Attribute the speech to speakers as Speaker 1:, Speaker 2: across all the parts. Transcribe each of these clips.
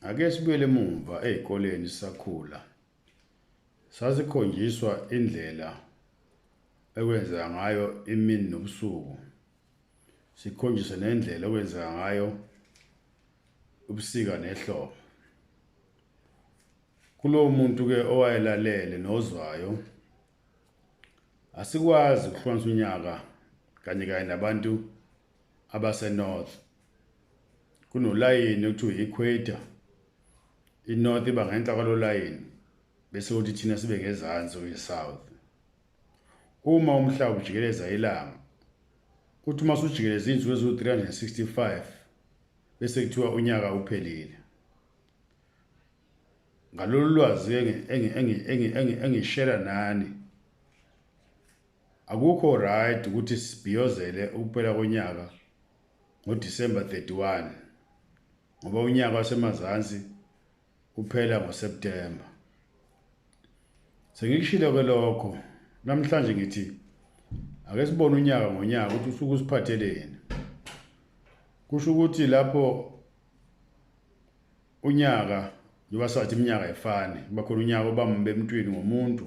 Speaker 1: Ake sibuyele emumva ezikoleni sisakhula. Sasikhonjiswa indlela ekwenzeka ngayo imini nobusuku. Sikhonjiswe nendlela ekwenzeka ngayo ubusika nehlobo. Kulowo muntu ke owayelalele nozwayo asikwazi ukuhlonisa unyaka kanye kanye nabantu abaseNorth. Kunolayini okuthiwa i-equator. INorth iba ngenhla kwalo layini bese kuthi thina sibe ngezansi kwi-south. Uma umhlaba ujikeleza ilanga, uthi uma sujikeleza iy'nsuku eziwu-365 bese kuthiwa unyaka uphelile. Ngalolu lwazi engishera nani, Akukho right ukuthi sibhiyozele ukuphela konyaka ngo December 31 ngoba unyaka wasemazansi uphela ngo September. Sengikushilo ke lokho namhlanje ngithi ake sibone unyaka ngonyaka ukuthi usuku usiphatheleni. Kusho ukuthi lapho unyaka njengoba sathi iminyaka ayifani kuba khona unyaka obambe emntwini ngomuntu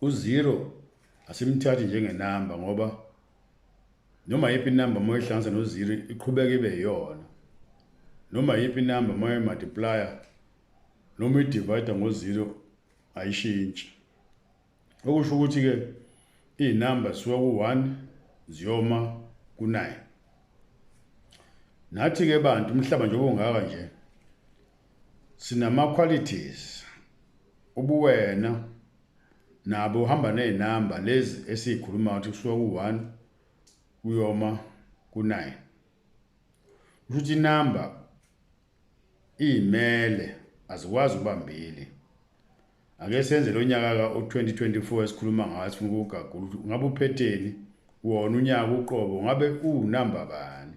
Speaker 1: Uzero asimthathi njengenamba ngoba noma yiphi inamba uma ihlanganisa nozero iqhubeka ibe yiyona noma yiphi inamba uma imultiplier noma idivide ngozero ayishintshi okusho ukuthi-ke iy'namba zisuka ku-one ziyoma ku-nine nathi-ke bantu umhlaba njengoba ungaka nje Sinama qualities ubuwena nabo uhamba nezinamba lezi esizikhuluma ukuthi kusuka ku1 kuyoma ku9 ukuthi inamba imele azikwazi ubambili ake senze lonyaka ka 2024 esikhuluma ngawo sifuna ukugagula ukuthi ngabe uphetheni wona unyaka uqobo ngabe unamba bani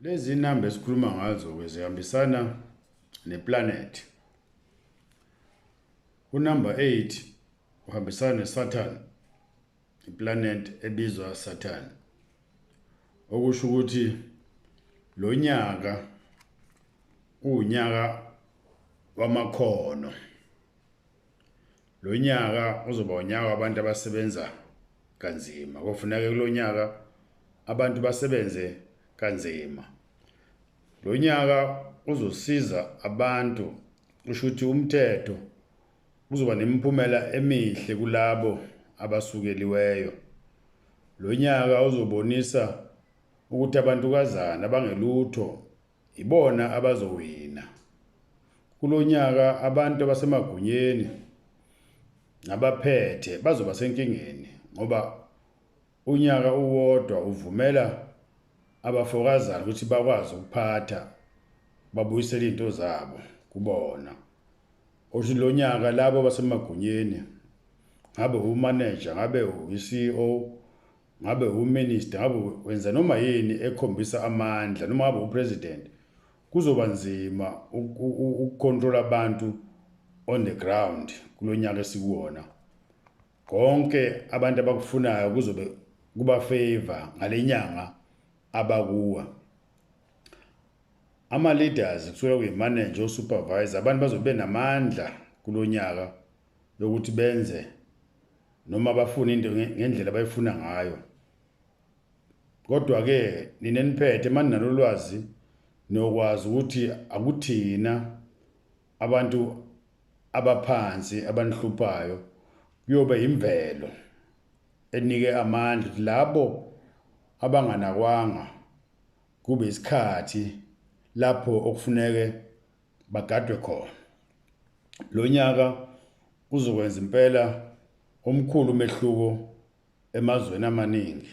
Speaker 1: Lezi namba esikhuluma ngazo-ke zihambisana neplanethi. Unumber 8 uhambisana neSaturn, iplanethi ebizwa Saturn. Okusho ukuthi lo nyaka uwunyaka wamakhono. Lo nyaka uzoba unyaka wabantu abasebenza kanzima. Kofuneka kulo nyaka abantu basebenze kanzima. Lo nyaka uzosiza abantu kusho ukuthi umthetho uzoba nemiphumela emihle kulabo abasukeliweyo. Lo nyaka uzobonisa ukuthi abantukazana abangelutho Yibona abazowina. Kulonyaka abantu abasemagunyeni nabaphethe bazoba senkingeni ngoba unyaka uwodwa uvumela abafokazana ukuthi bakwazi ukuphatha babuyisele izinto zabo kubona. Othi lo nyaka labo basemagunyeni ngabe umaneja ngabe uyi-CEO ngabe uminister ngabe wenza noma yini ekhombisa amandla noma ngabe upresident kuzoba nzima ukucontrola abantu on the ground kulonyaka esikuwona konke abantu abakufunayo kuzobe kuba favor ngalenyanga abakuwa ama leaders kusuka kuyi manager o supervisor abantu bazobe namandla kulonyaka yokuthi benze noma bafuna into ngendlela abayifuna ngayo kodwa-ke nina niphethe mani nalolwazi nokwazi ukuthi akuthina abantu abaphansi abanihluphayo kuyobe imvelo enike amandla ukuthi labo abanganakwanga kube isikhathi lapho okufuneke bagadwe khona. Lo nyaka uzokwenza impela omkhulu umehluko emazweni amaningi.